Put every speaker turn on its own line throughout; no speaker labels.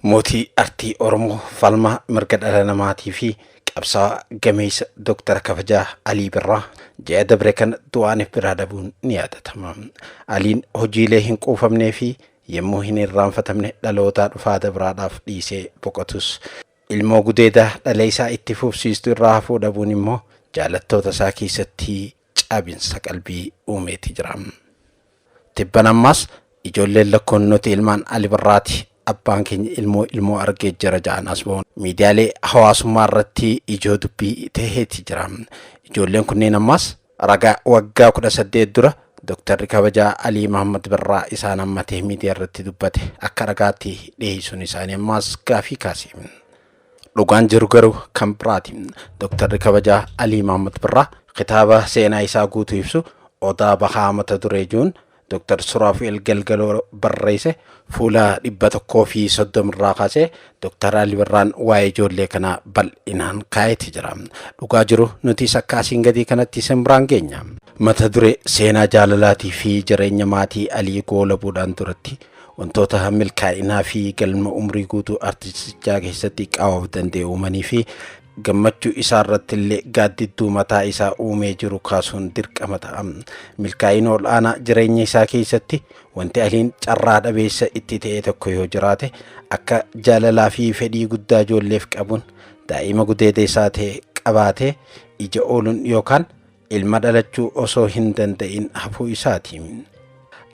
Mootii artii Oromoo, falmaa mirga dhala namaatii fi qabsaa'aa gameessa Doktara Kabajaa Alii Birraa ji'a dabre kana du'aaniif biraa dhabuun ni yaadatama. Aliin hojiilee hin quufamnee fi yommuu hin irraanfatamne dhalootaa dhufaa dabraadhaaf dhiisee boqotus, ilmoo gudeedaa dhalee isaa itti fufsiistu irraa hafuu dhabuun immoo jaalattoota isaa keessatti cabinsa qalbii uumeeti jira. Tibbana ammaas ijoolleen lakkoon nuti ilmaan Ali Birraati abbaan keenya ilmoo ilmoo argee jira ja'an as ba'uun miidiyaalee hawaasummaa irratti ijoo dubbii taheeti jira. Ijoolleen kunneen ammaas ragaa waggaa kudha saddeet dura Doktarri kabajaa Alii Mahammad Birraa isaan hammatee miidiyaa irratti dubbate akka ragaatti dhiheessuun isaanii ammaas gaafii kaase. Dhugaan jiru garuu kan biraati. Doktarri kabajaa Alii Maamud Birraa kitaaba seenaa isaa guutuu ibsu Odaa Bahaa mata duree jiruun Doktar Suraafi'el Galgaloo barreesse fuula dhibba tokkoo fi soddoma irraa kaasee Doktar Alii Birraan waa'ee ijoollee kanaa bal'inaan kaa'eeti jira. Dhugaa jiru nutis akka asiin gadii kanatti isin biraan geenya. Mata duree seenaa jaalalaatii fi jireenya maatii Alii goolabuudhaan duratti Wantoota milkaa'inaa fi galma umrii guutuu artistichaa keessatti qaawwaaf danda'e uumanii fi gammachuu isaa irratti illee gaaddidduu mataa isaa uumee jiru kaasuun dirqama ta'a. Milkaa'ina ol'aanaa jireenya isaa keessatti wanti aliin carraa dhabeessa itti ta'e tokko yoo jiraate akka jaalalaa fi fedhii guddaa ijoolleef qabuun daa'ima gudeeda isaa ta'e qabaatee ija ooluun yookaan Ilma dhalachuu osoo hin danda'in hafuu isaati.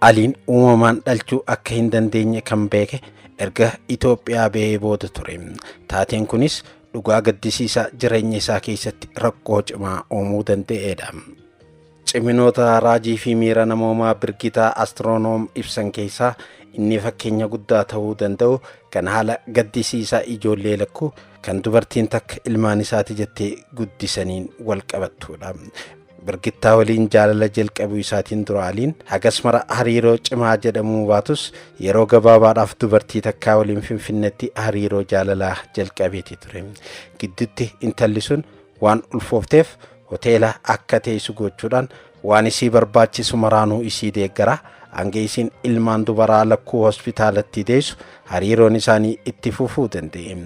Aliin uumamaan dhalchuu akka hin dandeenye kan beeke erga Itoophiyaa ba'ee booda ture. Taateen kunis dhugaa gaddisiisaa jireenya isaa keessatti rakkoo cimaa uumuu danda'eedha. Ciminoota raajii fi miira namoomaa Birgitaa Astiroonoom ibsan keessaa inni fakkeenya guddaa ta'uu danda'u kan haala gaddisiisaa ijoollee lakkuu kan dubartiin takka ilmaan isaati jettee guddisaniin wal qabattuudha. Birgittaa waliin jaalala jalqabuu isaatiin dura Aliin hagas mara hariiroo cimaa jedhamuu baatus yeroo gabaabaadhaaf dubartii takkaa waliin finfinnetti hariiroo jaalalaa jalqabeeti ture. Gidduutti intalli sun waan ulfoofteef hoteela akka teessu gochuudhaan Waan isii barbaachisu maraanuu isii deeggara. Hanga isiin ilmaan dubaraa lakkuu hospitaalatti deessu hariiroon isaanii itti fufuu danda'e.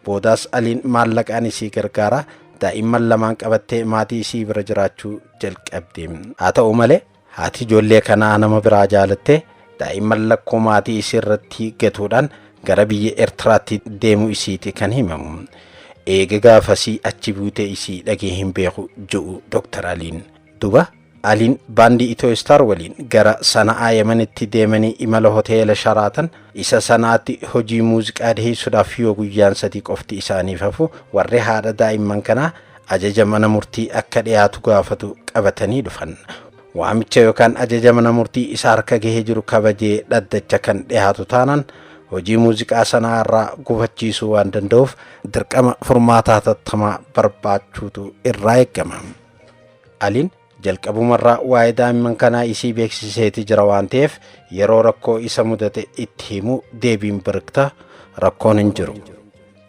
Boodaas Aliin maallaqaan isii gargaara. Daa'imman lamaan qabattee maatii isii bira jiraachuu jalqabde. Haa ta'u malee haati ijoollee kanaa nama biraa jaalattee daa'imman lakkuu maatii isii irratti gatuudhaan gara biyya Eertiraatti deemuu isiiti kan himamu. Eega gaafasii achi buutee isii dhagee hin beeku je'u Dr. Aliin. Duba Aliin baandii Itooyistar waliin gara Sana'aa Yemenitti deemanii imala hoteela Sharaatan isa Sana'aatti hojii muuziqaa dhiheessuudhaaf yoo guyyaan sadii qofti isaaniif hafu warri haadha daa'imman kanaa ajaja mana murtii akka dhiyaatu gaafatu qabatanii dhufan. Waamicha yookaan ajaja mana murtii isa harka gahee jiru kabajee dhaddacha kan dhiyaatu taanaan hojii muuziqaa Sana'aa irraa gufachiisuu waan danda'uuf dirqama furmaataa hatattamaa barbaachuutu irraa eegama. Aliin jalqabumarraa waa'ee daa'imman kanaa isii beeksiseeti jira waan ta'eef yeroo rakkoo isa mudate itti himu deebiin birikta rakkoon hin jiru.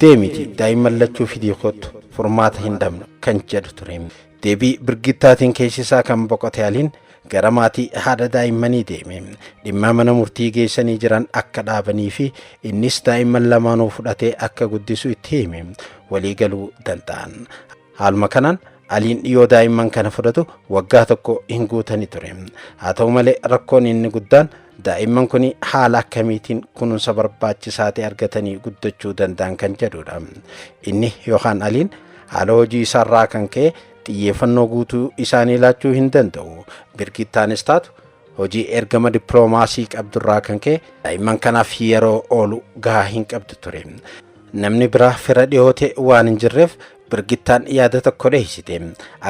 Deemiti daa'imman lachuu fidii kottu furmaata hin dhabne kan jedhu ture. Deebii birgittaatiin keessisaa kan boqote aliin gara maatii haadha daa'immanii deeme. Dhimma mana murtii geessanii jiran akka dhaabanii fi innis daa'imman lamaanuu fudhatee akka guddisu itti hime. Walii galuu danda'an. Haaluma kanaan Aliin dhiyoo daa'imman kana fudhatu waggaa tokko hin guutani ture. Haa ta'u malee rakkoon inni guddaan daa'imman kun haala akkamiitiin kunuunsa barbaachisaa ta'e argatanii guddachuu danda'an kan jedhudha. Inni yookaan Aliin haala hojii isaarraa kan ka'e xiyyeeffannoo guutuu isaanii laachuu hin danda'u. Birgittaanis taatu Hojii ergama dippiloomaasii qabdurraa kan ka'e daa'imman kanaaf yeroo oolu gahaa hin qabdu ture. Namni biraa fira dhihoote waan hin jirreef birgittaan yaada tokko dheeysite.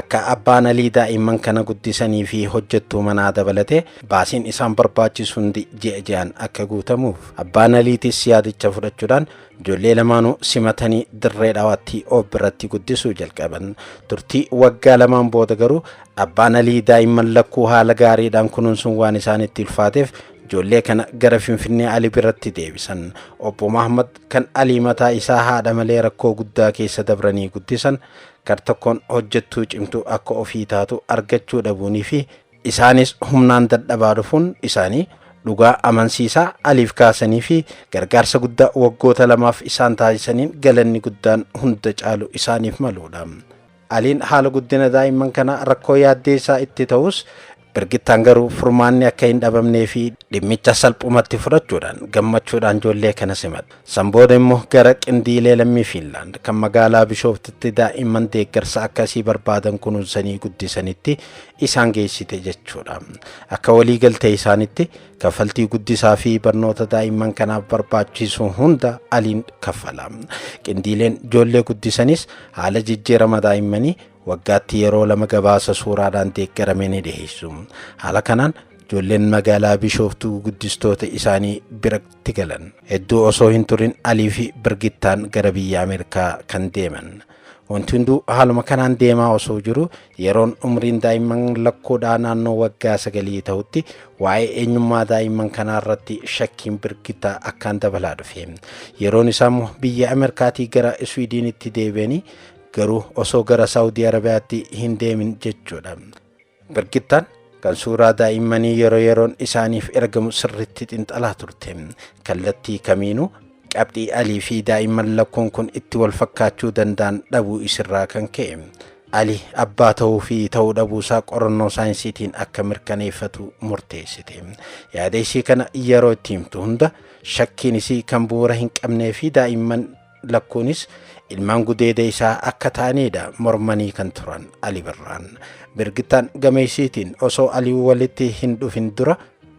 Akka abbaan alii daa'imman kana guddisanii fi hojjettuu manaa dabalatee baasiin isaan barbaachisu hundi ji'a ji'aan akka guutamuuf. Abbaan aliitis yaadicha fudhachuudhaan Ijoollee lamaanuu simatanii dirree dhawaatti ob biratti guddisuu jalqaban. Turtii waggaa lamaan booda garuu abbaan Alii daa'imman lakkuu haala gaariidhaan kunuunsuun waan isaanitti ulfaateef ijoollee kana gara Finfinnee Ali biratti deebisan. Obbo Mahammad kan Alii mataa isaa haadha malee rakkoo guddaa keessa dabranii guddisan gar tokkoon hojjettuu cimtuu akka ofii taatu argachuu dhabuunii fi Isaanis humnaan dadhabaa dhufuun isaanii dhugaa amansiisaa Aliif kaasanii fi gargaarsa guddaa waggoota lamaaf isaan taasisaniin galanni guddaan hunda caalu isaaniif maluudha. Aliin haala guddina daa'imman kanaa rakkoo yaaddeessaa itti ta'us Birgittaan garuu furmaanni akka hin dhabamnee fi dhimmicha salphumatti fudhachuudhaan gammachuudhaan ijoollee kana simatte. San booda immoo gara qindiilee lammii Fiinlaand kan magaalaa Bishooftitti daa'imman deeggarsa akkasii barbaadan kunuunsanii guddisanitti isaan geessite jechuudha. Akka walii galtee isaanitti kaffaltii guddisaa fi barnoota daa'imman kanaaf barbaachisu hunda aliin kaffala. Qindiileen ijoollee guddisanis haala jijjiirama daa'immanii waggaatti yeroo lama gabaasa suuraadhaan deeggarame ni dhiheessu. Haala kanaan ijoolleen magaalaa Bishooftuu guddistoota isaanii biratti galan. Hedduu osoo hin turin Alii fi Birgittaan gara biyya Ameerikaa kan deeman. Wanti hunduu haaluma kanaan deemaa osoo jiru yeroon umriin daa'imman lakkoodhaa naannoo waggaa sagalii ta'utti waa'ee eenyummaa daa'imman kanaa irratti shakkiin birkitta akkaan dabalaa dhufe. Yeroon isaa immoo biyya Ameerikaatii gara Iswiidiinitti deebi'anii garuu osoo gara Saawudii Arabiyaatti hin deemin jechuudha. Birgittaan kan suuraa daa'immanii yeroo yeroon isaaniif ergamu sirriitti xinxalaa turte. Kallattii kamiinuu qabxii Alii fi daa'imman lakkuun kun itti wal fakkaachuu danda'an dhabuu isirraa kan ka'e. Ali abbaa ta'uu fi ta'uu dhabuusaa qorannoo saayinsiitiin akka mirkaneeffatu murteessite. Yaada isii kana yeroo itti himtu hunda shakkiin isii kan bu'uura hin qabnee fi daa'imman lakkuunis ilmaan gudeeda isaa akka ta'aniidha mormanii kan turan Ali Birraan. Birgittaan gameessiitiin osoo Alii walitti hin dhufin dura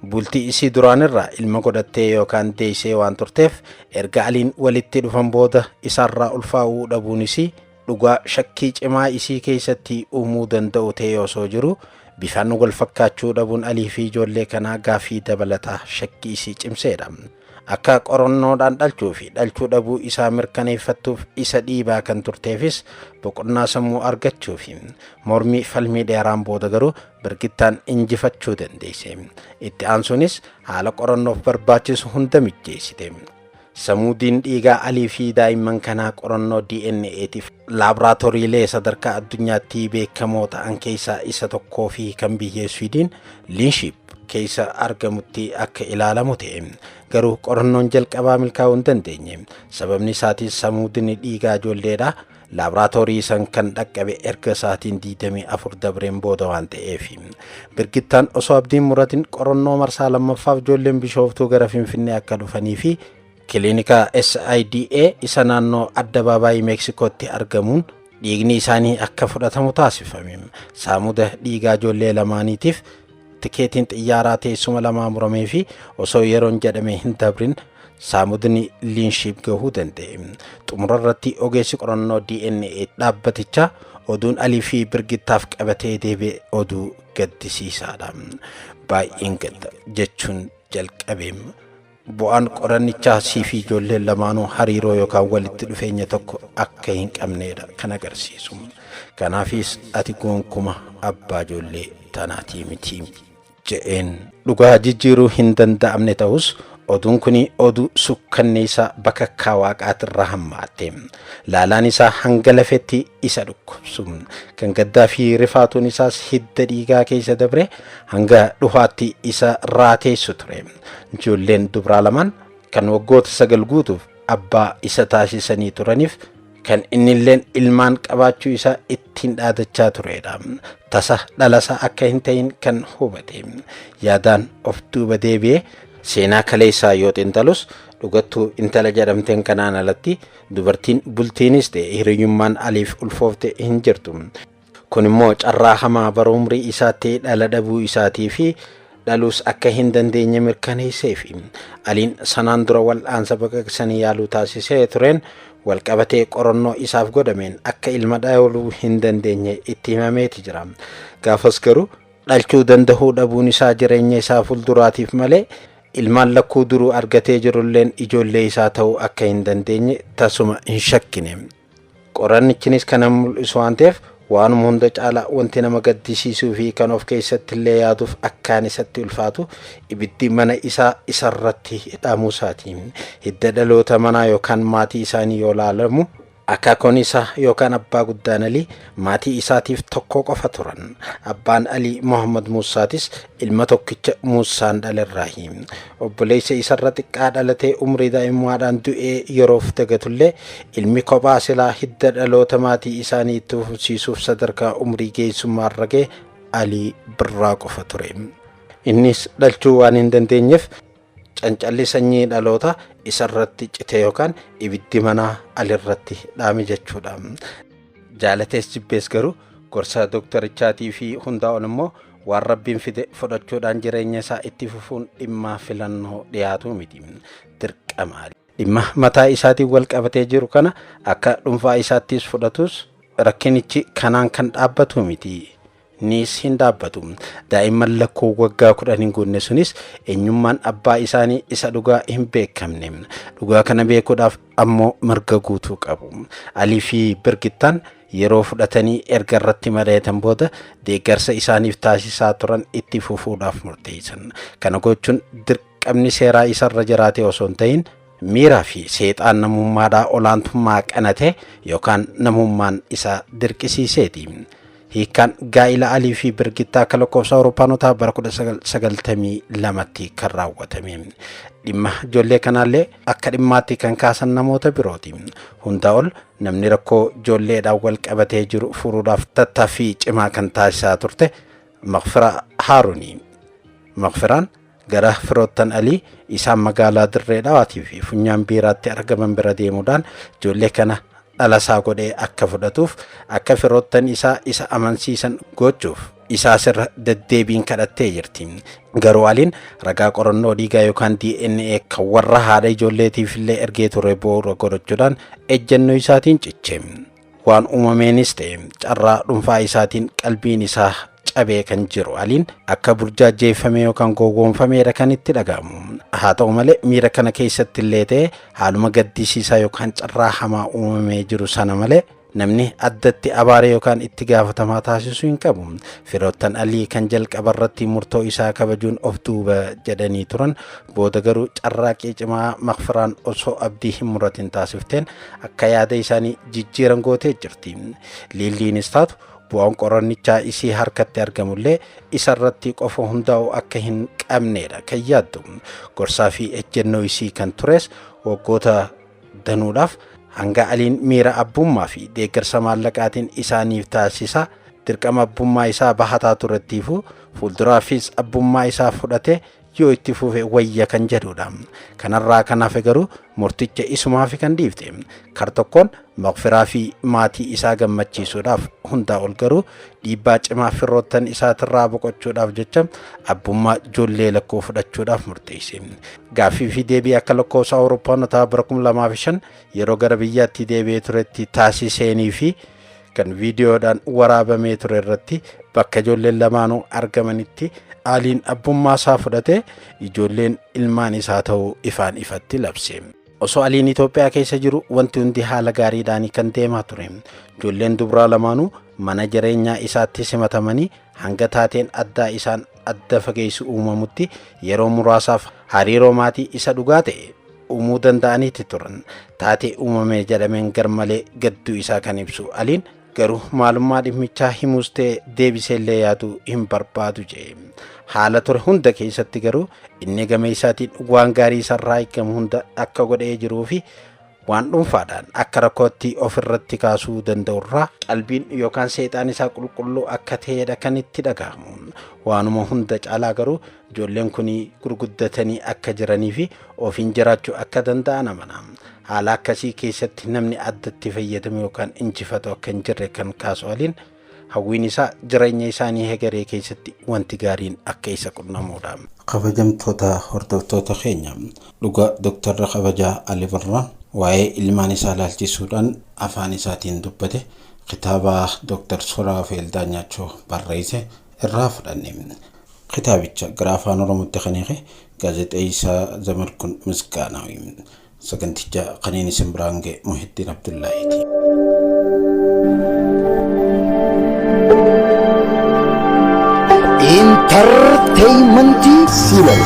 bultii isii duraanirraa ilma godhattee yookaan deessee waan turteef erga Aliin walitti dhufan booda isaarraa ulfaa'uu dhabuun isii dhugaa shakkii cimaa isii keessatti uumuu danda'u ta'ee osoo jiru bifaan wal fakkaachuu dhabuun alii fi ijoollee kanaa gaafii dabalataa shakkii isii cimseedha. Akka qorannoodhaan dhalchuu fi dhalchuu dhabuu isaa mirkaneeffattuuf isa dhiibaa kan turteefis boqonnaa sammuu argachuu fi mormii falmii dheeraan booda garuu birgittaan injifachuu dandeesse. Itti aansuunis haala qorannoof barbaachisu hunda mijjeessite. Samuudiin dhiigaa Alii fi daa'imman kanaa qorannoo DNA'tiif laaboraatooriilee sadarkaa addunyaatti beekamoo ta'an keessaa isa tokkoo fi kan biyya Swiidin Liinshiip keessa argamutti akka ilaalamu ta'e. Garuu qorannoon jalqabaa milkaa'uu hin dandeenye. Sababni isaatis samuudni dhiigaa ijoolleedha. Laaboraatoorii san kan dhaqqabe erga sa'aatiin 24 dabreen booda waan ta'eef Birgittaan osoo abdiin muratin qorannoo marsaa lammaffaaf ijoolleen bishooftuu gara Finfinnee akka dhufanii fi kiliinika SIDA isa naannoo addabaabaayii Meeksikootti argamuun dhiigni isaanii akka fudhatamu taasifame. Saamuda dhiigaa ijoollee lamaaniitiif Tikeetiin xiyyaaraa teessuma lamaa muramee fi osoo yeroon jedhame hin dabrin saamudni liinshiip gahuu danda'e. Xumura irratti ogeessi qorannoo DNA dhaabbatichaa oduun Alii fi Birgittaaf qabatee deebi'e oduu gaddisiisaadha. Baay'een gadda jechuun jalqabeem. Bu'aan qorannichaa siifi ijoolleen lamaanuu hariiroo yookaan walitti dhufeenya tokko akka hin qabneedha kan agarsiisu. Kanaafis ati goonkuma abbaa ijoollee tanaatii miti. Je'een. Dhugaa jijjiiruu hin danda'amne ta'us oduun kuni oduu sukkanneessaa bakakkaa waaqaatirra hammaatte. Laalaan isaa hanga lafetti isa dhukkubsu. Kan gaddaa fi rifaatuun isaas hidda dhiigaa keessa dabree hanga dhuhaatti isa raateessu ture. Ijoolleen dubraa lamaan kan waggoota sagal guutuuf abbaa isa taasisanii turaniif kan innilleen ilmaan qabaachuu isaa ittiin dhaadachaa turedha. Tasa dhalasaa akka hin ta'in kan hubate. Yaadaan of duuba deebi'ee seenaa kaleessaa yoo xinxalus dhugattuu intala jedhamteen kanaan alatti dubartiin bultiinis ta'e hiriyyummaan aliif ulfoofte hin jirtu. Kun immoo carraa hamaa bara umrii isaatti dhala dhabuu isaatii fi dhaluus akka hin dandeenye mirkaneesseefi. Aliin sanaan dura wal'aansa baqaqsanii yaaluu taasisee tureen walqabatee qorannoo isaaf godhameen akka ilma dhaluu hin dandeenye itti himameeti jira. Gaafas garuu dhalchuu dandahuu dhabuun isaa jireenya isaa fulduraatiif malee ilmaan lakkuu duruu argatee jirulleen ijoollee isaa ta'uu akka hin dandeenye tasuma hin shakkine. Qorannichinis kana hin mul'isu waan ta'eef waanuma hunda caalaa wanti nama gaddisiisuu fi kan of keessatti illee yaaduuf akkaan isatti ulfaatu ibiddi mana isaa isarratti dhaamuu isaati. Hidda dhaloota manaa yookaan maatii isaanii yoo ilaalamu, akaakoon isaa yookaan abbaa guddaan Alii maatii isaatiif tokko qofa turan. Abbaan Alii Mohaammad Muussaatis ilma tokkicha Muussaan dhalerraahi. Obboleessa isarra xiqqaa dhalatee umrii daa'imummaadhaan du'ee yeroof dagatullee ilmi kophaa silaa hidda dhaloota maatii isaanii itti fufsiisuuf sadarkaa umrii geessummaarra ga'e Alii Birraa qofa ture. Innis dhalchuu waan hin dandeenyeef Cancalli sanyii dhaloota isarratti cite yookaan ibiddi manaa alirratti dhaame jechuudha. Jaalatees jibbees garuu gorsa doktarichaatii fi hundaa ol immoo waan rabbiin fide fudhachuudhaan jireenya isaa itti fufuun dhimmaa filannoo dhiyaatuu miti. Dirqama. Dhimma mataa isaatiin wal qabatee jiru kana akka dhuunfaa isaattis fudhatus rakkinichi kanaan kan dhaabbatuu miti. niis hin dhaabbatu. Daa'imman lakkuu waggaa kudhan hin guunne sunis eenyummaan abbaa isaanii isa dhugaa hin beekamne. Dhugaa kana beekuudhaaf ammoo mirga guutuu qabu. Alii fi Birgittaan yeroo fudhatanii erga irratti mari'atan booda deeggarsa isaaniif taasisaa turan itti fufuudhaaf murteessan. Kana gochuun dirqama qamni seeraa isa irra jiraatee osoo hin ta'in miira fi seexaan namummaadhaa olaantummaa qanate yookaan namummaan isa dirqisiiseeti. Hiikkaan gaa'ila Alii fi Birgittaa akka lakkoofsa Awurooppaanotaa bara 1992tti kan raawwatame. Dhimma ijoollee kanaallee akka dhimmaatti kan kaasan namoota birooti. Hundaa ol namni rakkoo ijoolleedhaan wal qabatee jiru furuudhaaf tattaaffii cimaa kan taasisaa turte Maqfira Haaruni. Maqfiraan Gara firoottan Alii isaan magaalaa Dirree Dhawaatii fi Funyaan Biiraatti argaman bira deemuudhaan ijoollee kana dhalasaa godhee akka fudhatuuf akka firoottan isaa isa amansiisan gochuuf isaa sirra deddeebiin kadhattee jirti. Garuu Aliin ragaa qorannoo dhiigaa yookaan DNA kan warra haadha ijoolleetiif illee ergee ture bu'uura godhachuudhaan ejjennoo isaatiin ciche. Waan uumameenis ta'e carraa dhuunfaa isaatiin qalbiin isaa cabee kan jiru Aliin akka burjaajjeeffamee yookaan gowwoomfameedha kan itti dhaga'amu. Haa ta'u malee miira kana keessatti illee ta'e haaluma gaddisiisaa yookaan carraa hamaa uumamee jiru sana malee namni addatti abaaree yookaan itti gaafatamaa taasisuu hin qabu. Firoottan Alii kan jalqaba irratti murtoo isaa kabajuun of duuba jedhanii turan booda garuu carraaqqii cimaa makfiraan osoo abdii hin muratin taasifteen akka yaada isaanii jijjiiran gootee jirti. Liilliinis taatu bu'aan qorannichaa isii harkatti argamullee isarratti qofa hundaa'u akka hin qabneedha kan yaaddu. Gorsaa fi ejjennoo isii kan tures waggoota danuudhaaf hanga aliin miira abbummaa fi deeggarsa maallaqaatiin isaaniif taasisaa dirqama abbummaa isaa bahataa turettiifuu fuulduraafis abbummaa isaa fudhatee yoo itti fufe wayya kan jedhudha. Kanarraa kan hafe garuu murticha isumaafi kan dhiifte. Kar tokkoon maqfiraa fi maatii isaa gammachiisuudhaaf hundaa ol garuu dhiibbaa cimaa firroottan isaatirraa boqochuudhaaf jecha abbummaa ijoollee lakkoo fudhachuudhaaf murteesse. Gaaffii fi deebii akka lakkoofsa Awurooppaanotaa bara 2005 yeroo gara biyyaatti deebi'ee turetti taasiseenii fi kan viidiyoodhaan waraabamee ture irratti bakka ijoolleen lamaanuu argamanitti aaliin abbummaa isaa fudhatee ijoolleen ilmaan isaa ta'uu ifaan ifatti labse. Osoo aliin Itoophiyaa keessa jiru wanti hundi haala gaariidhaan kan deemaa ture. Ijoolleen dubraa lamaanuu mana jireenyaa isaatti simatamanii hanga taateen addaa isaan adda fageessu uumamutti yeroo muraasaaf hariiroo maatii isa dhugaa ta'e uumuu danda'aniiti turan. Taatee uumame jedhameen garmalee gadduu isaa kan ibsu Aliin garuu maalummaa dhimmichaa himuus ta'e deebisee illee yaaduu hin barbaadu jedhe. Haala ture hunda keessatti garuu inni gama isaatiin waan gaarii isarraa eegamu hunda akka godhee jiruu fi waan dhuunfaadhaan akka rakkootti ofirratti kaasuu danda'urraa qalbiin yookaan seexaan isaa qulqulluu akka ta'edha kan itti dhagahamu. Waanuma hunda caalaa garuu Ijoolleen kun gurguddatanii akka jiranii fi ofiin jiraachuu akka danda'an amana. Haala akkasii keessatti namni addatti fayyadamu yookaan injifatu akka hin jirre kan kaasu Aliin hawwiin isaa jireenya isaanii hegeree keessatti wanti gaariin akka isa qunnamuudha. Kabajamtoota hordoftoota keenya dhugaa Doktarri Kabajaa Ali Birraa waa'ee ilmaan isaa ilaalchisuudhaan afaan isaatiin dubbate kitaaba Doktar Suraafeel Daanyaachoo barreesse irraa fudhanne. Kitaabicha gara Afaan Oromootti kan hiike Gaazexeessaa Zamadkun Misgaanaawi. Saganticha kaniin isin biraan ga'e Muhittiin Abdullaahiiti.
Intarteeymentii Siiloo.